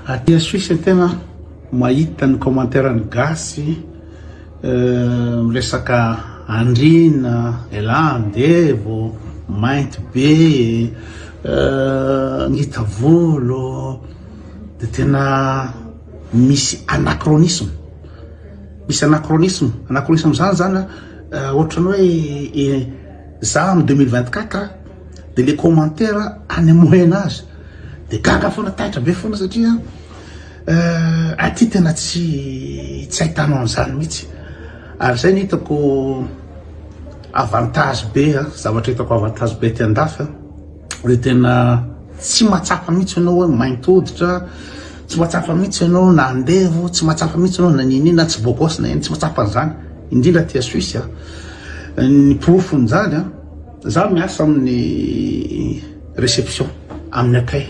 Aty a Suisse tena mahita ny commentaire ny gasy miresaka andriana elah andevo mainty be ngita volo de tena misy anachronisme misy anachronisme anachronisme zany zany a ohatran'ny hoe za am deux mille vingt quatre de le commentaire any am moyen age Dia gaga foana, taitra be foana satria eh, aty tena tsy tsy ahitana an'izany mihitsy. Ary izay ny hitako avantage be, eh, zavatra hitako avantage be aty andafy, eh, dia tena tsy mahatsapa mihitsy ianao hoe mainty hoditra, tsy mahatsapa mihitsy ianao na andevo, tsy mahatsapa mihitsy ianao na ninina, tsy bogos na inona, tsy mahatsapa an'izany, indrindra aty a Suisse. eh. Ny porofon'izany, eh, Za miasa amin'ny reception amin'ny accueil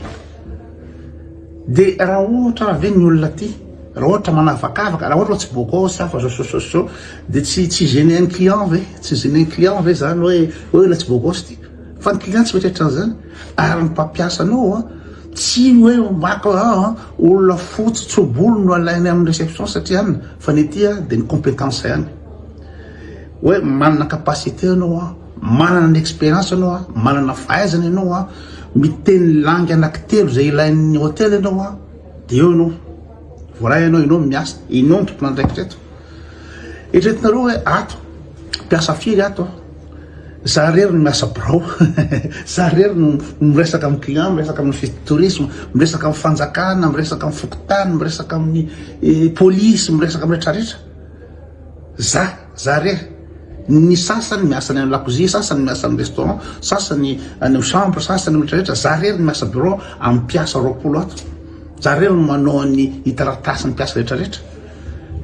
de raha ohatra ary ve ny olona aty raha ohatra manavakavaka raha ohatra tsy boko sy hafa zao de tsy tsy gêner ny client ve tsy gêner ny client ve zany hoe hoe ilay tsy boko sy ty fa ny client tsy mieritreritra an'zany ary ny mpampiasa anao a tsy hoe maka olona fotsy tso-bolo no alainy amin'ny reception satria any fa ny aty a de ny compétence ihany Hoe manana capacité ianao an, manana ny expérience ianao an, manana fahaizana ianao an, miteny langue anankitelo izay ilain'ny hôtel ianao an, dia eo ianao, voaray ianao, ianao no miasa, ianao no tompon'andraikitra eto. Eritreretinareo hoe ato, mpiasa firy ato an? za rery no miasa birao, za rery no miresaka amin'ny client, miresaka amin'ny office de tourisme, miresaka amin'ny fanjakana, miresaka amin'ny fokontany, miresaka amin'ny eh, polisy, miresaka amin'ny rehetrarehetra. Za, za rery. Ny sasany miasa any amin'ny lakozia, sasany miasa amin'ny restaurant, sasany any amin'ny chambre, sasany olona rehetra. Za rery ny miasa bureau amin'ny mpiasa roapolo ato. Za rery no manao ny hitaratasy ny mpiasa rehetra rehetra.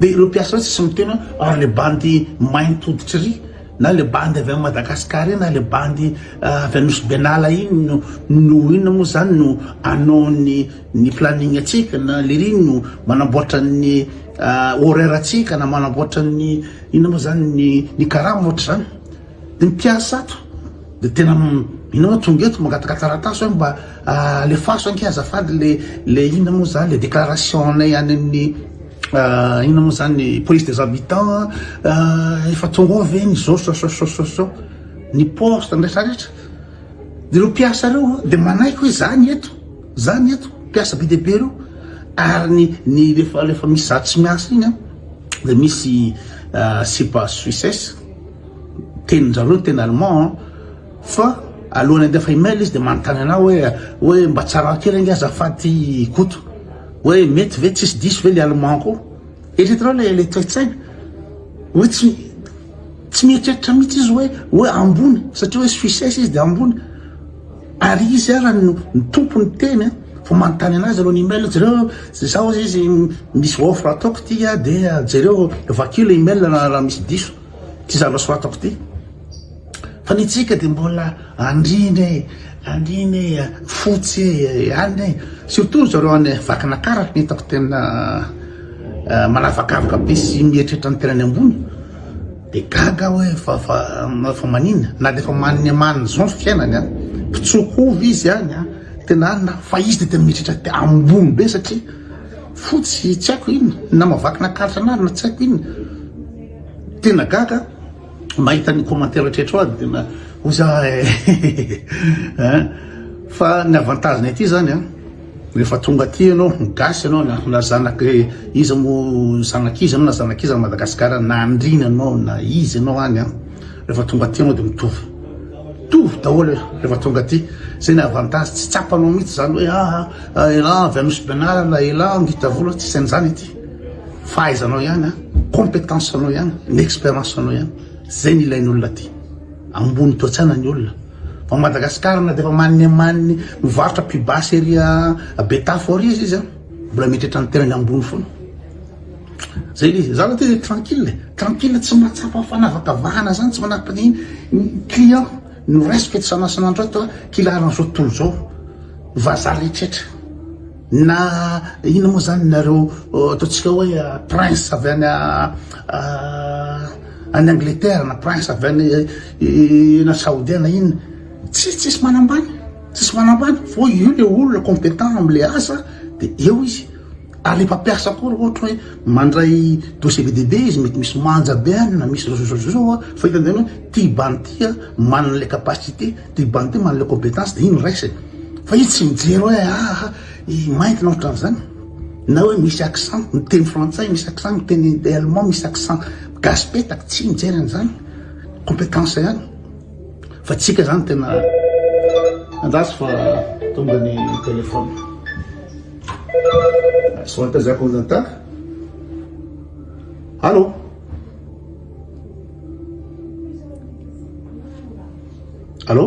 Dia ireo mpiasa rehetra tsy miteny hoe ary le bandy mainty hoditry ry na le bandy avy any Madagascar iny na le bandy avy any Nosy Benala iny no no inona moa zany no anao ny Ny planning antsika na lery no manamboatra ny horaire antsika na manamboatra ny inona moa zany ny ny karama ohatra zany de ny mpiasa ato de tena inona tonga eto mangataka taratasy hoe mba alefaso anke azafady le le inona moa zany le déclaration anay any amin'ny inona moa zany ny police des habitants efa tonga ao ve ny zao sao sao sao sao sao ny poste ny rehetra rehetra de ireo mpiasa ireo de manaiky hoe za ny eto Zany eto mpiasa be dia be reo ary ny ny refa refa misy za tsy miasa iny an de misy sipa suisses tenin zareo teny allemand an fa alohan'ny handefa email izy de manontany anao hoe hoe mba tsara kely ange azafady ty koto hoe mety ve tsisy diso ve le allemand ko eritreretinao le le toetsaina hoe tsy tsy mieritreritra mihitsy izy hoe hoe ambony satria hoe suisses izy de ambony Ary izy ara ny Tompo ny teny a! Vao manontany anazy aloha ny email, jereo zao hozy izy misy offre ataoko ity a! dia jereo vakio le email raha misy diso ty zavatra soratako ty fa ny antsika dia mbola andriana e! andriana e! fotsy e! alina e! surtout zareo any Vakinakara no hitako tena manavakavaka be sy mieritreritra ny tenany ambony. Dia gaga aho hoe fa fa fa maninona? Na dia efa manne manne izao ny fiainany an! Mpitsoa-hovy izy any an! Tena any na fa izy dia tena mieritreritra ambony be satria fotsy tsy haiko inona, na mavakina karatra na na tsy haiko inona. Tena gaga aho mahita an'io commentaire hatreto aho dia tena hoy za eh! Fa ny avantage-ny aty izany an! Rehefa tonga aty ianao, gasy ianao na na zanak' iza moa, zanak' iza ianao na zanak' iza any Madagasikara na andriana ianao na iza ianao any an, rehefa tonga aty ianao dia mitovy, mitovy daholo rehefa tonga aty, zay ny avantage, tsy tsapanao mihitsy izany hoe aa elah avy Anosibenala, elah Angitavola, tsisy an'izany aty, fahaizanao ihany an, competence anao ihany, ny experience anao ihany, zay no ilain'olona aty, ambony toe-tsaina ny olona. Fa Madagascar na dia efa maniny amaniny mivarotra pibasy ery a betafo ao riza izy a mbola mieritreritra ny tenany ambony foana zay le izy za aloha tena tranquille tranquille tsy mahatsapa fanavakavahana zany tsy manapaka ny client no raisiko etsy sanasanandro ato a kila aran'izao tontolo zao vazaha rehetra Na inona moa izany nareo ataontsika hoe prince avy any any Angleterre na prince avy any na Saodia na inona, tsy tsisy manambany, tsisy manambany fô io le olona compétent am'le asa de eo izy, ary le mpampiasa koa raha ohatra hoe mandray dossier be dia be izy mety misy manja be any na misy zao zao zao fa hitan'ny hoe ty bandy ty a manana le capacité. Dia mba nte manale competence dia iny raisiny fa izy tsy mijery hoe aha i mainty na ohatran zany na hoe misy accent miteny frantsay misy accent miteny allemand misy accent gasy petaka tsy mijery an'izany competence ihany fa tsika zany tena andraso fa tonga ny téléphone soata zako nata allo Allô?